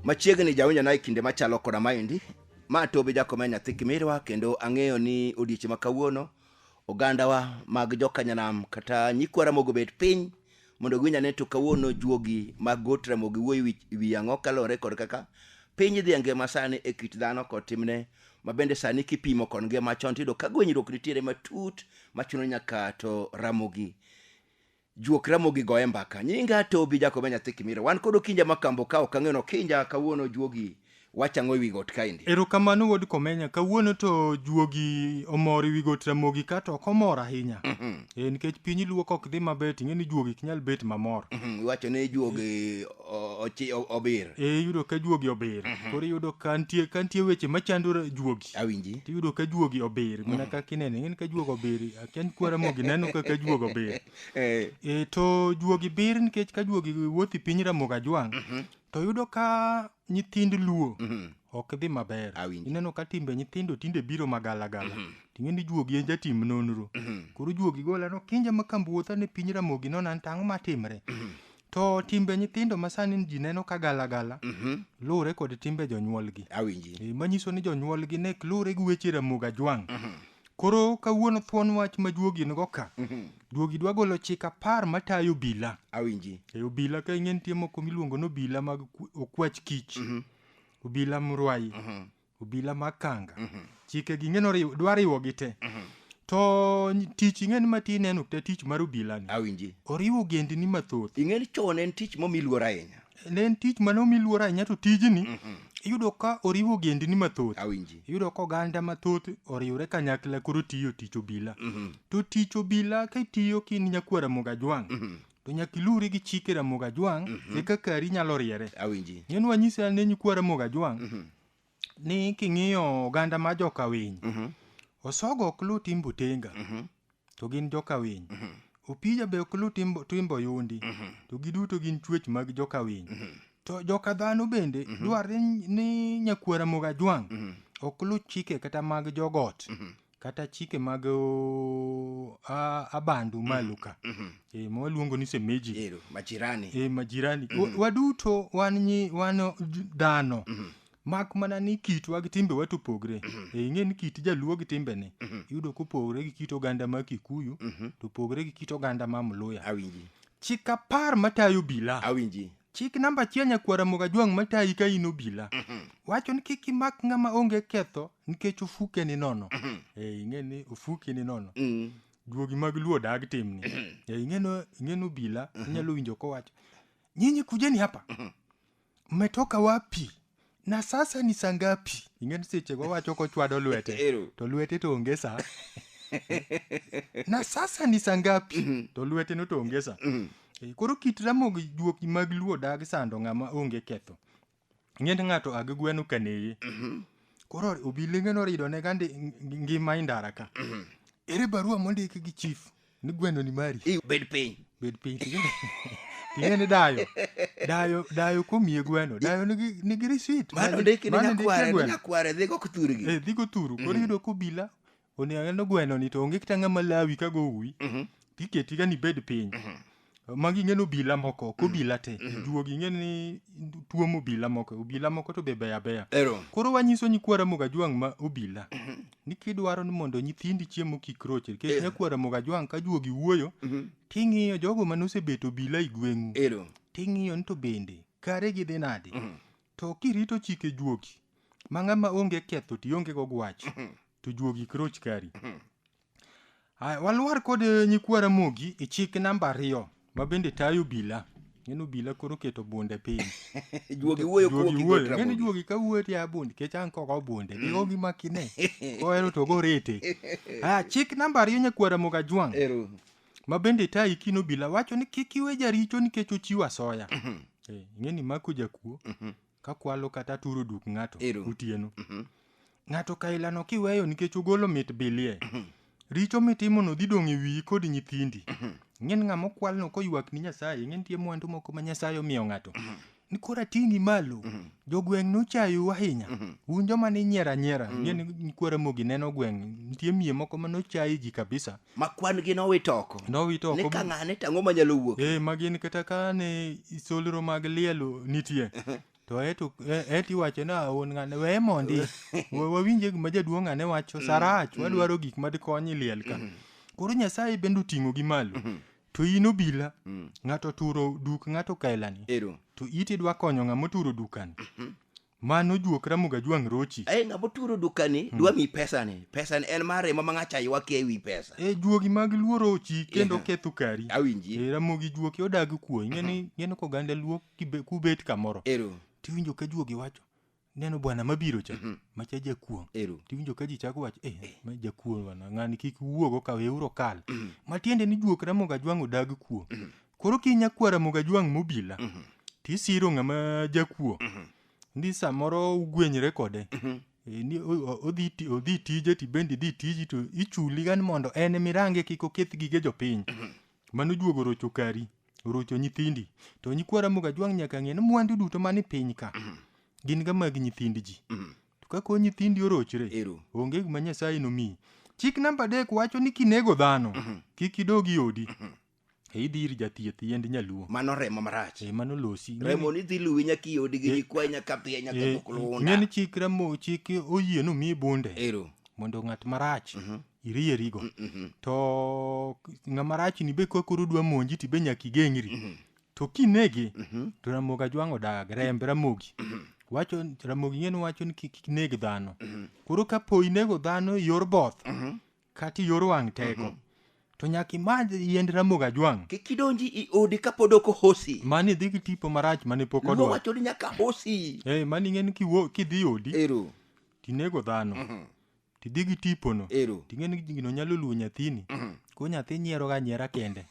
machiegni jawinjo na e kinde machalo koda maendi ma tobi jakomea nyathi kimirwa kendo ang'eyo ni odiechieng' ma kawuono ogandawa mag jokanyanam kata nyikwa ramogo bet piny mondo giwinj ane to kawuono juogi mag got ramogi wuoyi wi- wi ang'o kaluwore kod kaka piny dhi e ngima sani e kit dhano kod timne ma bende sani kipimo kod ngima chon tiyudo ka gwenyruok nitiere matut machuno nyaka to ramogi juok ramogi goye mbaka nyinga tobi jakobe nyathi kimira wan kod okinja makambo ka ok ang'eyo nokinja kawuono juogi wachang'o ewi got kaendi erokamano wuod komenya kawuono to juogi omor ewi got ramogi ka to ok omor ahinya Mhm, e nikech piny luo ka ok dhi maber ting'e ni juogi ok nyal bet mamor mhm, iwacho ni juogi o- ochi- o- obir e iyudo ka juogi obir koro iyudo ka nitie ka nitie weche machando ra- juogi awinji tiyudo ka juogi obir mana mm. kaka inene ng'en ka juogo obir akia ni kwara mogi neno kaka juogo obir eh. e, to juogi bir nikech ka juogi wuothi piny ramogi ajwang' mhm. to yudo ka nyithind luo mhm. ok dhi maber ineno ka timbe nyithindo tinde biro magalagala mhm. ting'e ni juogi en jatim nonro koro juogi golano kinja ma kambuotha ne piny ramogi nona tang'o matimre To timbe nyithindo ma sani ji neno ka galagala Mhm. luwore kod timbe jonyuolgi. Awinji. Eh, Manyiso ni jonyuolgi ne luwore gi weche Ramogi Ajwang'. Koro kawuono thuon wach ma juogi nigo ka. Mhm. Juogi dwa golo chik apar matayo obila. Awinji. E obila ka ing'e nitie moko miluongo ni obila mag ku- okwach kich. Mhm. Obila mrwayi. Mhm. obila mag kanga chike gi ng'eno riw- dwa riwogi te to ny- tich ing'eni ma ti neno kata tich mar obilani awinji oriwo gendini mathoth ing'eni chon en tich momi luor ahinya ne en tich mane omi luor ahinya to tijni iyudo ka oriwo gendini mathoth awinji iyudo ka oganda mathoth oriwre kanyakla koro tiyo tich obila to tich obila kitiyo kin nyakwara mogajwang' to nyaka iluwri gi chike ramogi ajwang' e kaka ari nyalo riere awinji ng'e ni wanyisi ne nyikwa ramogi ajwang' ni king'iyo oganda ma jokawiny osogo ok lu timbo tenga to gin jokawiny opija be ok lu timbo, timbo yundi to giduto gin chuech mag jokawiny to joka dhano bende dwarre ni nyakwara moga jwang' ok lu chike kata mag jogot kata chike mag o, a- abandu malo ka Mhm. e, ma waluongo ni semeji Ero, majirani e, majirani Wa- waduto wan nyi wan j- dhano Mhm. mak mana ni kitwa gi timbewa to opogre e, ing'e ni kit jaluo gi timbene Mhm. iyudo kopogre gi kit oganda ma kikuyu Mhm. to opogre gi kit oganda ma mluya awinji chik apar matayo bila awinji chik namba achiel nyakwar Ramogi Ajwang' matayi ka in obila wacho ni kik imak ng'ama onge ketho nikech ofuke ni nono Eh, ing'e ni ofuki ni nono Mm. duogi mag luo dag timni Eh, ing'eno ing'eno obila inyalo winjo kowacho nyinyi kujeni hapa mmetoka wapi na sasa ni saa ngapi ing'e ni sechego wacho kochwado lwete Ero. to lwete to onge saa na sasa ni saa ngapi to lwete no to onge saa Eh, koro kit ramogi juoki mag luo dag sando ng'ama onge ketho ing'e ni ng'ato agi gweno kaneye koro obilenge norido ne gandi ngima indara ka ere barua mondik gi chief ni gweno ni mari I- bed piny bed piny ting'e ni dayo dayo dayo komiye gweno dayo nigi nigi risit mano ndiki ni nyakware ni nyakware dhigo kuthurgi eh dhigo turu koro yudo kobila oneno gweno ni to onge kata ng'ama lawi ka go uwi tiketi ga ni bed piny magi ing'e ni obila moko ok obila te juogi ing'e ni tuomo obila moko obila moko to be beyo abeya Ero. koro wanyiso nyikwa Ramogi Ajwang' ma obila ni kidwaro ni mondo nyithindi chiemo kik roche nikech nyakwa Ramogi Ajwang' ka juogi wuoyo ting'iyo jogo mane osebeto obila i gweng'u Ero. ting'iyo ni to bende kare gidhi nadi to kirito chike juogi ma ng'ama onge ketho to ionge go gwach to juogi kik roch kari Aya, walwar kod eh, nyikwa Ramogi e chik namba ariyo ma bende tayo obila. Ng'en obila koro keto bunde piny. Juogi wuoyo kuo Juogi gi wuoyo. Gotra Ng'en Mogi. juogi ka wuoyo tiya bunde kech an koko bunde. Ni ogi makine. Kohero to gorete. Aya, chik namba ariyo nyakwa Ramogi Ajwang' Ero. ma bende tayo ikin obila wacho ni kik iwe jaricho nikech ochiwo asoya. Eh, Ing'e ni mako jakuo. kakwalo kata aturo duk ng'ato Ero. otieno ng'ato kailano kiweyo nikech ogolo mit bilie richo mitimono dhi dong' e wiyi kod nyithindi ng'en ng'ama okwalno koywak ni nyasaye ng'en tie mwandu moko ma nyasaye omiyo ng'ato ni koro ating'i malo jogweng' nochayou ahinya un joma ninyiero anyiera ng'en ni kwara mogi neno gweng' nitie miye moko ma nochayi ji kabisa ma kwan gi nowit oko nowit oko ni ka ng'ane to ang'o manyalo wuok eh ma gin kata ka ne solro mag lielo nitie to eto e- eto iwacho ni aon ng'ane weye mondi Wa- wawinje gima jaduong' ng'ane wacho sarach wadwaro gik madikonyi liel ka koro nyasaye bende oting'o gi malo to in obila ng'ato turo duk ng'ato kaelani ero to iti dwa konyo ng'ama oturo dukani Mano juok Ramogi Ajwang' Rochi. Ai ng'ama oturo dukani dwa mi pesani. Pesani en mar remo ma ng'acha ywak ewi pesa. E juogi mag Luo Rochi kendo Yeah. ketho kari. Awinji. E Ramogi juoki odag kuo. Ingeni ingeni ko ganda Luo kibe- kubet kamoro. Ero. Tiwinjo ka juogi wacho neno bwana mabiro cha macha jakuong'. Ero. Tiwinjo ka ji chako wacho eh ma jakuong' bwana ng'ani kik wuogo ka weuru kal. Matiende ni juok Ramogi Ajwang' odag kuo. koro ki nyakwara moga jwang' mobila Mhm. tisiro ng'ama jakuo Mhm. ni samoro ugwenyre kode Mhm. E, ni o- o- odhi ti- odhi tije tibendi dhi tiji to ichuli gan mondo en mirange kik oketh gige jopiny mano juogo rocho kari orocho nyithindi to nyikwara moga jwang' nyaka ng'e ni mwandu duto mani piny ka gin ga mag nyithind ji Mhm. to ka ko nyithindi orochre Ero. onge gima nyasaye nomiyi chik namba adek wacho ni kinego dhano kik idog i odi E idhi ir jathieth yiend nyaluo. Mano remo marach. E mano losi. Remo ni dhi luwi nyaka iodi gi gikwa e, nyaka piye nyaka e, mukulunda. Ng'en chik remo chik oyie no mi bunde. Ero. Mondo ng'at marach. Mm -hmm. irierigo mm -hmm. to ng'ama rach ni be kakoro dwa monji ti be nyaka igeng'ri mm -hmm. to kinege mm -hmm. to ramogi ajwang'o dag remb ramogi mm -hmm. wacho ramogi ng'en wacho ni kik neg dhano mm -hmm. koro kapo inego dhano yor both mm -hmm. kata iyor wang' teko to nyaka imadh yiend ramogi ajwang' kik idonji i odi kapod ok ohosi mani idhi gi tipo marach mane pok luo odwa wacho ni nyaka hosi Eh, mani ing'e ni kiwo- kidhi odi ero tinego dhano tidhi gi tipono ero ting'e ni gino nyalo luwo nyathini ko nyathi nyieroga nyiera kende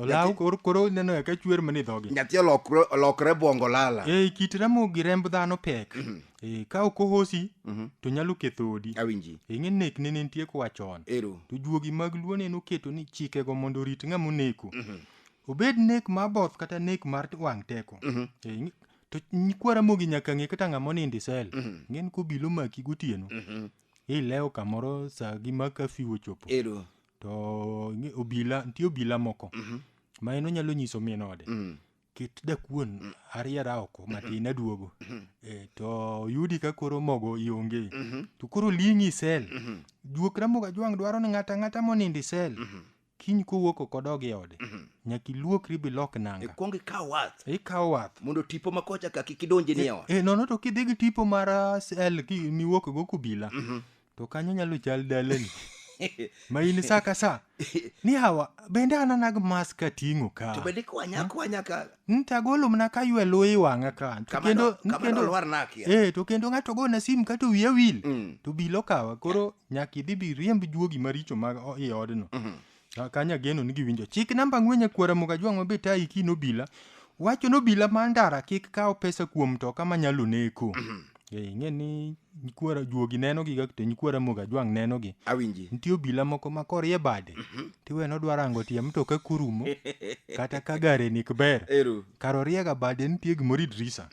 olaw koro koro neno ya ka chwer mani dhogi nyathi olokre olokre bongo lala e kit ramo gi remb dhano pek e ka ok ohosi to nyalo ketho odi awinji e ng'e nek ne nitie koa chon ero to juogi mag luo ne noketo ni chikego mondo orit ng'ama oneko obed nek mar both kata nek mar wang' teko E, ng'i- to nyikwa ramogi nyaka ng'e kata ng'ama onindo isel ng'en kobilo maki gotieno ilewo kamoro sa gi ma kafiu ochopo ero to ing'e- obila nitie obila moko Mhm. ma en onyalo nyiso min ode Mm. ket dakuon ariera oko matin aduogo Eh, to yudi ka koro mogo ionge Mhm. to koro ling'i isel Mhm. juok ramoga jwang' dwaro ni ng'ata ng'ata monindo isel Mhm. kiny kowuok oko dog e ode Mhm. nyaka iluokri bilok nanga ikwong ikaw wath ikawo wath mondo tipo ma kocha ka kik idonji ni e ot e nono to kidhi gi tipo mar ah, sel ki- miwuok go kubila Mhm. to kanyo nyalo chal dalani ma in sa ka sa ni hawa bende anana gi mas ka ting'o ka to bende kwanya kwanya ka Mm, to agolo mana ka ywe luyi wang'a ka To kama kendo- no- kama no kendo- lwar na akia. eh, to kendo ng'ato gona sim ka to wiya wil Mm. to bilo kawa koro nyaka idhi bi riemb juogi maricho mag o- i odno Mhm. Ah, Kanya geno ni giwinjo. Chik namba ang'wen nyakwara moga jwang' mabe tayi ki nobila. Wacho nobila ma ndara kik kaw pesa kuom mtoka manyalo neko. Eh, ing'e ni nyikwara juogi neno gi to nyikwara moga jwang' neno gi. awinji Nitie obila moko ma korie bade. Tiwe nodwa rango tie mtoka kurumo. Kata ka gare nik ber. ero kar oriega bade nitie gimoro idrisa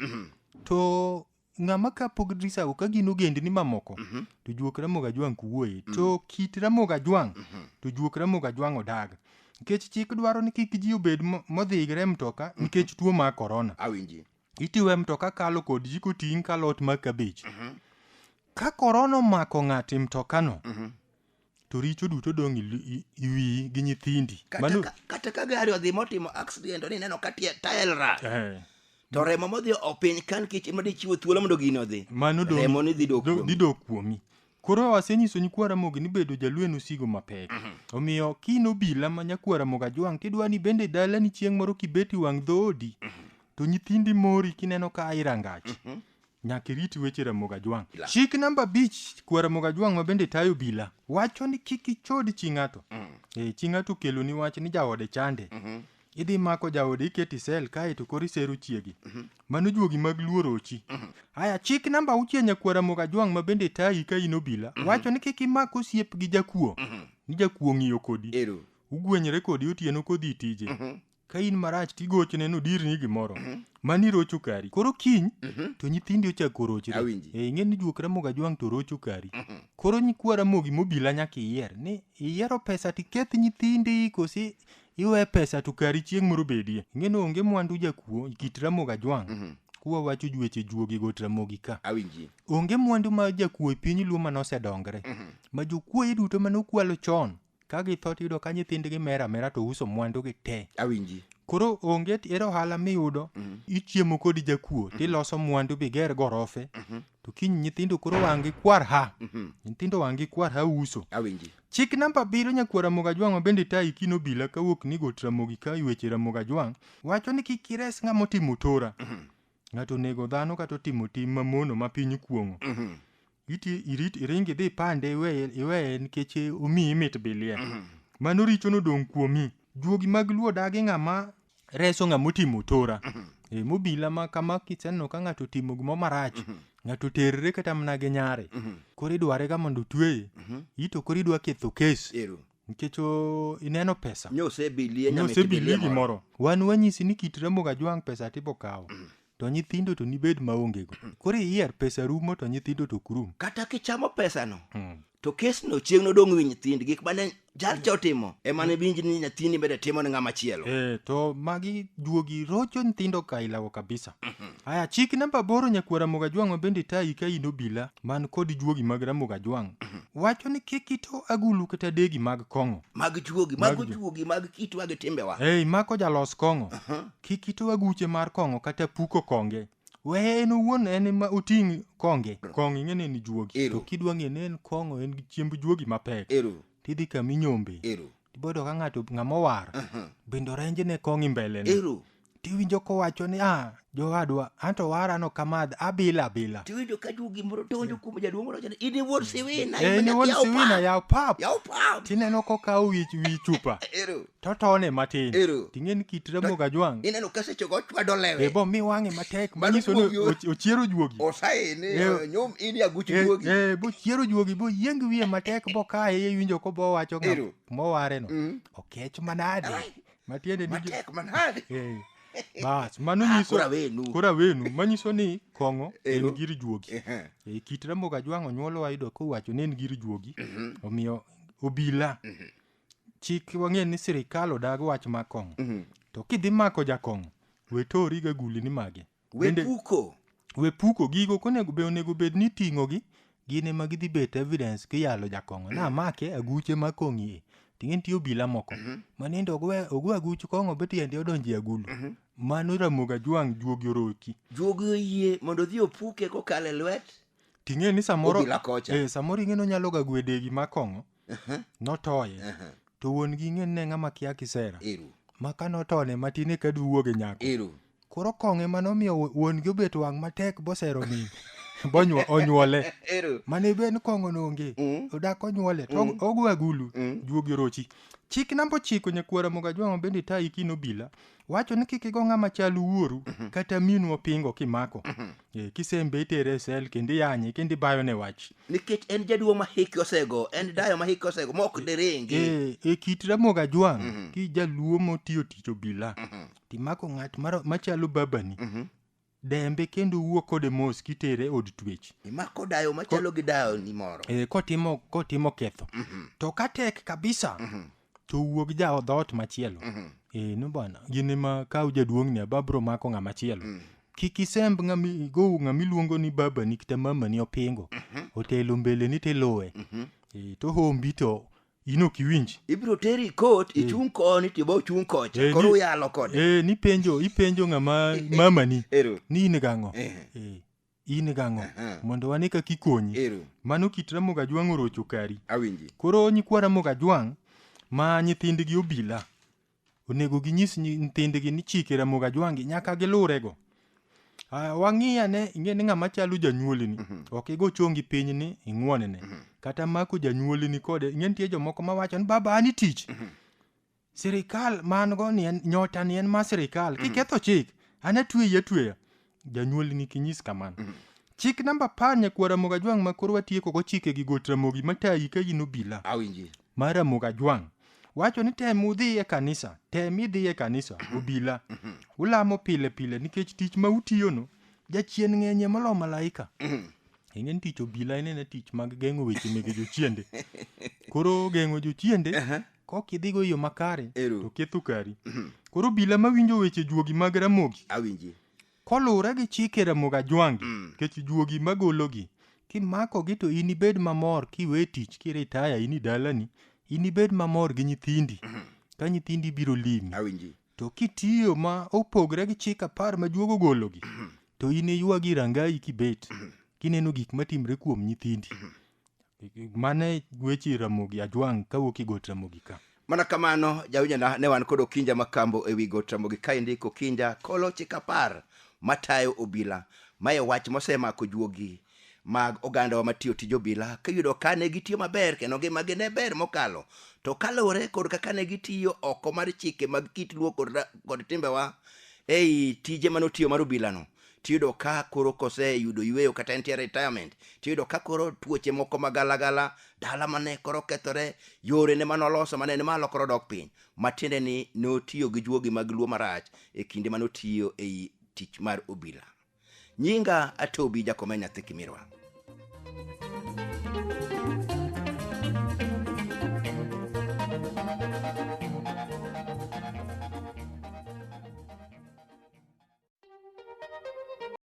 to ng'ama ka pog drisago ka gin ogendni mamoko Mhm. to juok ramoga jwang' kuwuoye to kit ramoga jwang' to juok ramoga jwang' odag nikech chik dwaro ni kik ji obed mo- modhigre e mtoka nikech tuo mar korona awinji itiyo e mtoka kalo kod ji koting' kalo ot mar kabich ka korona omako ng'ato e mtokano to richo duto dong' i wiyi gi nyithindi kata ka gari odhi motimo accident ni neno ka tael rach eh. to remo modhi opiny kan kech ema dichiwo thuolo mondo gini odhi remo ni dhi dok kuomi koro asenyiso nyikwara mogi ni bedo jalwen osigo mapek mhm. omiyo kino bila ma nyakwara moga jwang' tidwa ni bende dala ni chieng' moro kibeti wang' dhoodi mhm. to nyithindi mori kineno ka irangach mhm. Nyaka irit weche Ramogi Ajwang'. Chik namba abich kwa Ramogi Ajwang' ma bende tayo obila wacho ni kik ichod chi ng'ato. Eh, chi ng'ato okeloni wach ni jaode chande. Idhi mako jaode iketi sel kae to koro isero chiegi. Mano juogi mag luo rochi. Aya chik namba auchiel nyakwa Ramogi Ajwang' ma bende tayi ka in obila wacho ni kik imak osiep gi jakuo. Ni jakuo ng'iyo kodi. Ero. Ugwenyre kodi otieno kodhi tije. ka in marach tigochone nodirni gimoro mani irocho kari koro kiny to nyithindi ochako rochre Awinji. e ing'e ni juok ramogi ajwang' to rocho kari koro nyikwa ramogi mobila nyaka iyier ni iyiero pesa tiketh nyithindi kosi iwe pesa to kari chieng' moro bedie ing'e ni onge mwandu jakuo kit ramogi ajwang' kuwa wacho jueche juogi got ramogi ka awinji onge mwandu ma jakuo e piny luo mane osedongre ma jokuoye duto mane okwalo chon ka githo tiyudo ka nyithindgi mer amera to uso mwandugi te awinji koro onge t- ere ohala miyudo ichiemo kod jakuo tiloso mwandu biger gorofe to kiny nyithindo koro wang'gi kwar ha nyithindo wang'gi kwar ha uso awinji chik namba abiriyo nyakwar ramogi ajwang' ma bende tayi kino bila kawuok ni got ramogi ka weche ramogi ajwang' wacho ni kik ires ng'ama otimo tora ng'ato onego dhano kata otimo tim mamono ma piny kuong'o iti irit iringi dhi pande iweye iweye nikech omiyi mit bilie mano richo nodong' kuomi juogi mag luo dagi ng'ama reso ng'ama otimo tora e, mobila ma kama kiseneno ka ng'ato otimo gimo marach ng'ato terre kata mana gi nyare koro idware ga mondo otweye ito koro idwa ketho kes ero nikech o- ineno pesa nyosebilie nyosebilie gimoro wan wanyisi ni kit ramoga jwang' pesa tibo kawo to nyithindo to nibed maongego koro iyier pesa rumo to nyithindo to ok rum kata kichamo pesano hmm. to kesno chieng' nodong' wi nyithind gik mane jalcha otimo ema ne winj ni nyathini bende timo ne ng'ama chielo e, to magi juogi rocho nyithindo ka ilawo kabisa mhm. aya chik namba boro nyakuo ramoga jwang' mabende tayi ka in obila man kod juogi mag ramoga jwang' mhm. wacho ni kik ito agulu kata degi mag kong'o mag juogi mag juogi mag kitwa gi timbewa ei mako jalos kong'o mhm. Kik ito aguche mar kong'o kata puko konge. Weye en owuon en ema oting' konge. Kong'o ing'e ni en juogi. Ero. To kidwa ng'e ni en kong'o en gi chiemb juogi mapek. Ero. Tidhi kama inyombe. Ero. Tibodo ka ng'ato ng'ama owar. Aha. Bende orenje ne kong'o mbele ne. Ero. Tiwinjo kowacho ni ah jowadwa anto wara no kamadh abila abila. Tiwinjo ka juogi moro donjo kuom jaduong' moro wacho ni in iwuod siwina. Eh, in iwuod yaw siwina pap, yaw pap. Yaw pap. Tineno kokawo wi wi chupa. Ero. to tone matin ting'eni kit remo gajwang' ineno kasechego ochwado lewe bo mi wang'e matek manyiso ni ochiero juogi osaini eh, nyom in yaguch eh, juogi eh, bo chiero juogi bo yieng wiye matek bo kaye iwinjo ko bo wacho mowareno mm. okech manade matiende ni matek manade bas mano ah, nyiso kora wenu manyiso ni kong'o en gir juogi e kit remo gajwang' onyuolo wayudo kowacho ni en gir juogi mhm. omiyo obila mhm. chik wang'e ni sirikal odag wach ma kong'o mhm. to kidhi mako jakong'o we tori ga guli ni magi we puko we puko gigo konego be onego bed ni ting'o gi gin ema gidhi bet evidence kiyalo jakong'o na mhm. make aguche ma kong'i e ting'e nitie obila moko mhm. ma nende ogwe aguch kong'o be tiende odonje agulu mano ramoga jwang' juogi oroki juogi oyie mondo odhi opuke kokalo e lwet ting'e ni samoro eh, samoro ing'e ni onyalo ga gwedegi ma kong'o Aha, notoye aha. to wuon gi ng'e ne ng'ama kia kisera Ero, ma ka notone matin eka duwuoge nyako ero. koro kong'e ma nomiyo wu- wuon gi obet wang' matek bosero min bonyuo onyuole Ero. mane ben kong'o nonge Mm. odak onyuole to og- ogo agulu Mm. juogi orochi chik namba ochiko nyakwara mogajwang'o bende tayi kinobila wacho ni kik igo ng'ama chal wuoru kata minu opingo kimako Eh, kisembe itere e sel kendo iyanye kendo ibayo ne wach nikech en jaduong' ma hike osego en dayo ma hike osego ma ok diringi e, e kit ramoga jwang' ki jaluo motiyo tich obila timako ng'at maro- machalo babani dembe kendo wuo kode mos kitere e od twech imako dayo machalo gi dayo ni moro e, kotimo kotimo ketho to ka tek kabisa to wuog ja dhoot machielo e, no bwana gin ema kaw jaduong'ni ababro mako ng'ama chielo kik isemb ng'ami go ng'ami luongo ni baba ni kata mama ni opingo otelo mbele ni tiluwe e, to hombi to in ok iwinji ibiro teri kot ichung' koni tibo ochung' kocha Eh, koro ni- uyalo kode eh, nipenjo ipenjo ng'ama mamani ero ni in gang'o Eh. Eh, in gang'o Aha. mondo wane kaka ikonyi ero mano kit ramogi ajwang' orocho kari awinji koro nyikwa ramogi ajwang' ma nyithindgi obila Onego ginyis nyi- nyithindgi ni chike Ramogi Ajwangi nyaka gilurego. Ah, Wang'i ane ing'e ni ng'ama chalo janyuolini ok igo chongi piny ni ing'wonene kata mako janyuolini kode ing'e nitie jomoko mawacho ni baba an itich sirikal man go ni en nyota ni en ma sirikal kiketho chik an atweyi atweya janyuol ni kinyis kamano chik namba apar nyakuo ramogi ajwang' ma koro watieko go chike gi got ramogi matayi ka in obila awinji mar ramogi ajwang' wacho ni tem udhi e kanisa tem idhi e kanisa obila ulamo pile pile nikech tich ma utiyono jachien ng'enye molo malaika ing'e ni tich obila en ena tich mag geng'o weche mege jochiende koro geng'o jochiende kok idhigo yo makare Ero. to ketho kari koro obila mawinjo weche juogi mag ramogi awinji koluwore gi chike ramogi ajwangi Mm. kech juogi magologi kimakogi to inibed mamor kiwe tich kiritaya ini dalani inibed mamor gi nyithindi ka nyithindi biro limi awinji To kitiyo ma opogre gi chik apar ma juogo gologi, to in iywagi rangayi kibet, kineno gik matimre kuom nyithindi. Mano e weche Ramogi Ajwang' kawuok e got Ramogi ka. Mana kamano, jawinjona ne wan kod Okinja Makambo e wi got Ramogi kaendi Kokinja kolo chik apar matayo obila. Mae wach mosemako juogi mag ogandawa matiyo tij obila kiyudo ka ne gitiyo maber kendo ngimagi ne ber mokalo to kaluwore kod kaka ne gitiyo oko mar chike mag kit luo kod, ra- kod timbewa ei tije mane otiyo mar obilano tiyudo ka koro koseyudo yueyo kata entie retirement tiyudo ka koro tuoche moko magalagala dala mane koro kethore yore ne mane oloso mane ni malo koro dok piny matiende ni notiyo gi juogi mag luo marach e kinde mane otiyo ei tich mar obila nyinga atobi jakome nyathi kimirwa